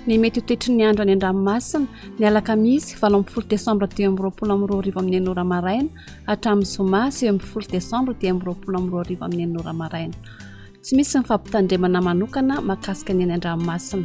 ny mety ho toetry ny andro any an-dranomasina ny alakamisy valo amin'ny folo desambra dimy amby roapolo amin'ny roa arivo amin'ny enora maraina hatramin'ny zoma sivy amby folo desambra dimy amby roapolo amin'ny roa arivo amin'ny enora maraina tsy misy ny fampitandremana manokana mahakasika ny any an-dranomasina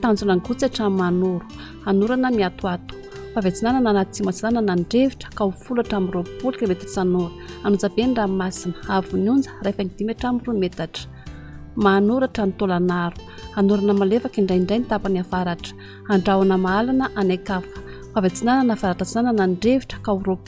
Tanjona ny gotsa hatramin'ny manoro, hanorana ny atoato, fa avy atsinanana na atsimo atsinanana ny rivotra, ka ho folo hatramin'ny roapolo kilometatra isan'ora. Hanonja be ny ranomasina, haavon'ny onja, iray faingo dimy hatramin'ny roa metatra. Mahanoratra ny taolan'aro. Hanorana malefaka indraindray ny tapany avaratra. Handrahona mahalana any an-kafa, fa avy atsinanana avaratra-atsinanana ny rivotra, ka ho roapolo.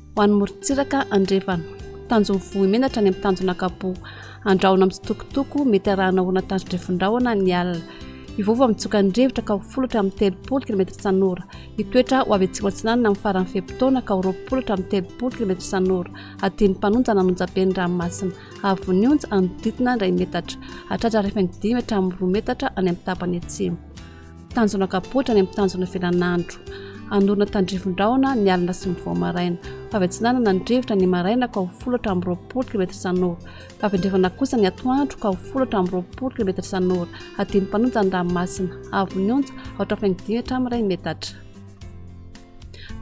Ho an'ny morontsiraka andrefana, tanjon'ny vohimenatra any amin'ny tanjona kapohy. Andrahona mitsitokotoko, mety arahana orana tandro-drefon-drahona ny alina. Hivovo amin'ny tsoka ny rivotra ka ho folo hatramin'ny telopolo kilometatra isan'ora. Hitoetra ho avy atsimo-atsinanana amin'ny faran'ny fe-potoana ka ho roapolo hatramin'ny telopolo kilometatra isan'ora. Adino mpanonja na anonja be ny ranomasina. Havon'ny onja, anodidina iray metatra. Hatratra harefany dimy hatramin'ny roa metatra any amin'ny tapany atsimo. Tanjona kapoaka any amin'ny tanjona velan'andro. Hanorina tandrivon-drahona ny alina sy ny vao maraina. Fa avy atsinanana ny rivotra ny maraina ka ho folo hatramin'ny roapolo kilometatra isan'ora. Fa avy andrefana kosa ny atoandro ka ho folo hatramin'ny roapolo kilometatra isan'ora. Hadino mpanonja ny ranomasina. Avo ny onja, aotra faingo dimy hatramin'ny iray metatra.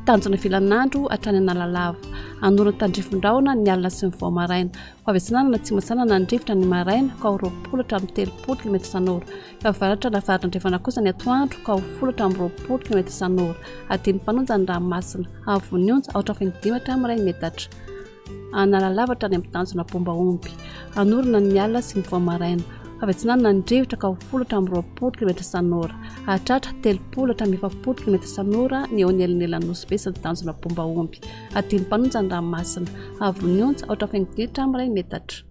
Tanjona velan'andro hatrany Analalava. Hanorina tandrivon-drahona ny alina sy ny vao maraina. Fa avy atsinanana atsimo atsinanana ny rivotra ny maraina ka ho roapolo hatramin'ny telopolo kilometatra isan'ora. Avaratra ary avaratra andrefana kosa ny atoandro ka ho folo hatramin'ny roapolo kilometa isan'ora. Adino mifanonja ny ranomasina. Havon'ny onja, aotra feno dimy hatramin'ny iray metatra. Analalava hatrany amin'ny tanjona Bombahomby. Anorina ny alina sy ny vao maraina. Avy atsinanana ny rivotra ka ho folo hatramin'ny roapolo kilometa isan'ora. Hahatratra telopolo hatramin'ny efapolo kilometa isan'ora ny eo anelanelan'ny Nosy-Be sy ny tanjona Bombahomby. Adino mifanonja ny ranomasina. Havon'ny onja, aotra feno dimy hatramin'ny iray metatra.